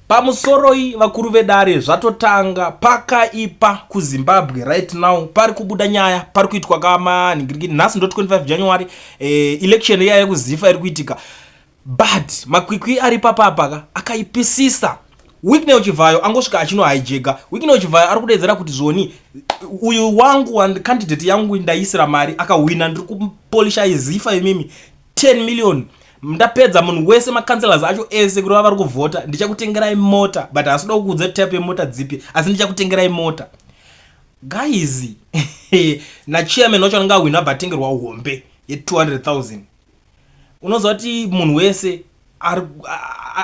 Pamusoroi vakuru vedare zvatotanga pakaipa kuZimbabwe right now pari kubuda nyaya pari kuitwa kamanhingirikiti nhasi ndo 25 January eh, election iya yekuzifa iri kuitika but makwikwi ari papapaka akaipisisa Wicknell Chivhayo angosvika achino hijega Wicknell Chivhayo ari kudedzera kuti zvoni uyu wangu candidate yangu ndaisira mari akahwina ndiri kupolisha izifa imimi 10 million ndapedza munhu wese macancelors acho ese kureva vari kuvhota ndichakutengerai mota but haasi kuda kukuudza type yemota dzipi asi ndichakutengerai mota guys nachairman wacho anenge ahwina abva atengerwa hombe ye200000 unoziva kuti munhu wese ari,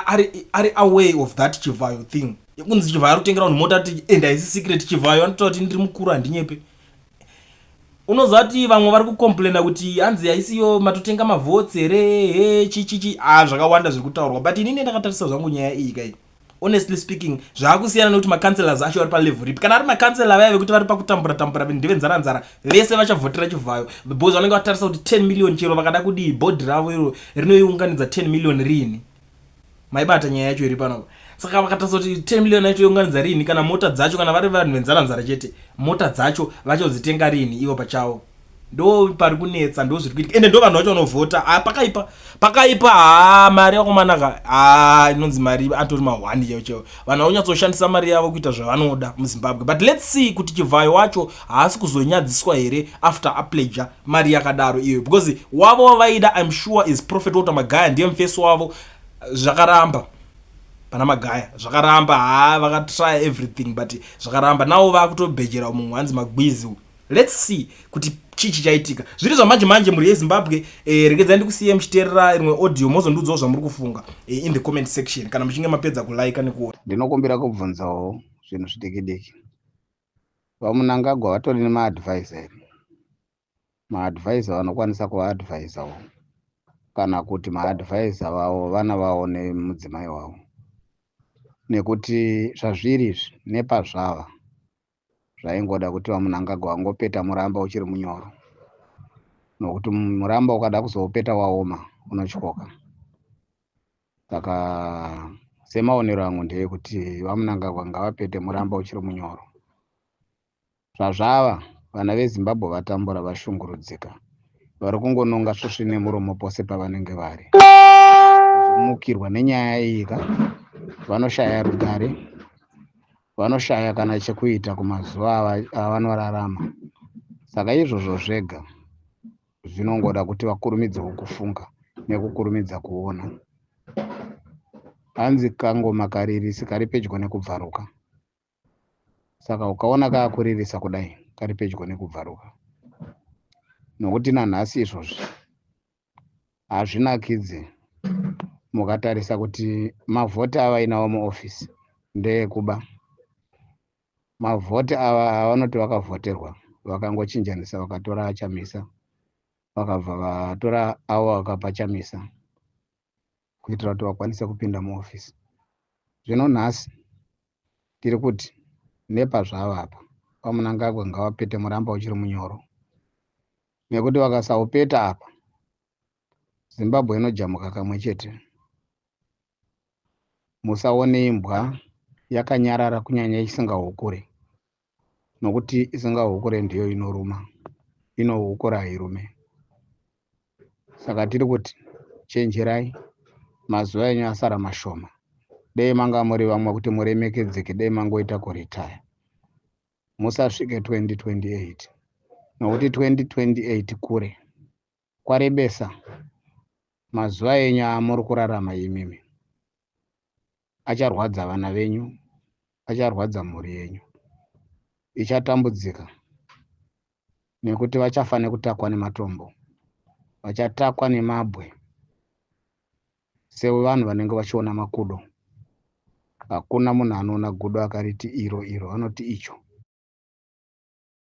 ari, ari away of that chivhayo thing yekunzi chivhayo ari kutengera munhu mota ti enda isi secret chivhayo anotoa kuti ndiri mukuru handinyepe unozati vamwe vari kucomplaina kuti hanzi haisiyo matotenga mavotes here he chichichi a ah, zvakawanda zviri kutaurwa but inini ndakatarisa zvangu nyaya iyi kai honestly speaking zvaakusiyana nekuti macancelors acho vari palevel ripi kana ari macancela vaya vekuti vari pakutambura tambura ndevenzara nzara vese vachavhotera chivhayo because vanenge vatarisa kuti 10 million chero vakada kudii bhodhi ravo iro rinoiunganidza 10 million riini maibata nyaya yacho iri pano saka vakatarisa kuti 10 million yacho younganidza rini kana mota dzacho kana vari vanhu venzara nzara chete mota dzacho vachodzitenga rini ivo pachavo ndo pari kunetsa ndo zviri kuitika ende ndo vanhu vacho vanovhota ah, pakaipa pakaipa haa ah, mari yakomanaka haa ah, inonzi mari atori mahwani chaivo chaivo vanhu vakunyatsoshandisa mari yavo kuita zvavanoda muzimbabwe but let's see kuti chivhayo wacho haasi kuzonyadziswa here after apleja mari yakadaro iyoyo because wavo wavaida im sure is prophet water magaya ndiye mufesi wavo zvakaramba pana magaya zvakaramba haa vakatrya everything but zvakaramba nawo vakutobhejera mumwe hanzi magwizi lets see kuti chii chichaitika zviri zvamanje manje mhuri yezimbabwe eh, regedzai ndikusiye muchiteerera rimwe audio mozondiudzawo zvamuri kufunga eh, in the comment section kana muchinge mapedza kulaika nekuona ndinokumbira kubvunzawo zvinhu zvidikidiki VaMunangagwa vatori nemaadvisor here? Maadvisor vanokwanisa kuvaadvisor wo kana kuti maadvisor vavo vana vavo nemudzimai wavo nekuti zvazviri izvi nepazvava zvaingoda kuti vamunangagwa vangopeta muramba uchiri munyoro nokuti muramba ukada kuzoupeta waoma unotyoka saka semaonero angu ndeyekuti vamunangagwa ngavapete muramba uchiri munyoro zvazvava vana vezimbabwe vatambura vashungurudzika vari kungononga svosvi nemuromo pose pavanenge vari mukirwa nenyaya iyi ka vanoshaya rugare vanoshaya kana chekuita kumazuva avanorarama saka izvozvo zvega zvinongoda kuti vakurumidzewo kufunga nekukurumidza kuona hanzi kangoma karirisi kari pedyo nekubvaruka saka ukaona kaakuririsa kudai kari pedyo nekubvaruka nokuti nanhasi izvozvi hazvinakidze mukatarisa kuti mavhoti avainawo muofisi ndeekuba mavhoti ava avanoti vakavhoterwa vakangochinjanisa vakatora achamisa vakabva vatora avo vakapa chamisa kuitira kuti vakwanise kupinda muhofisi zvino nhasi tiri kuti nepazvava apa vamunangagwa ngavapete muramba uchiri munyoro nekuti vakasaupeta apa zimbabwe inojamuka kamwe chete musaone imbwa yakanyarara kunyanya isingahukure nokuti isingahukure ndiyo inoruma inohukura hairume saka tiri kuti chenjerai mazuva enyu asara mashoma dei manga muri vamwe kuti muremekedzeke dei mangoita kuritaya musasvike 2028 nokuti 2028 kure kwarebesa mazuva enyu amuri kurarama imimi acharwadza vana venyu acharwadza mhuri yenyu ichatambudzika nekuti vachafa nekutakwa nematombo vachatakwa nemabwe sevanhu vanenge vachiona makudo hakuna munhu anoona gudo akariti iro iro anoti icho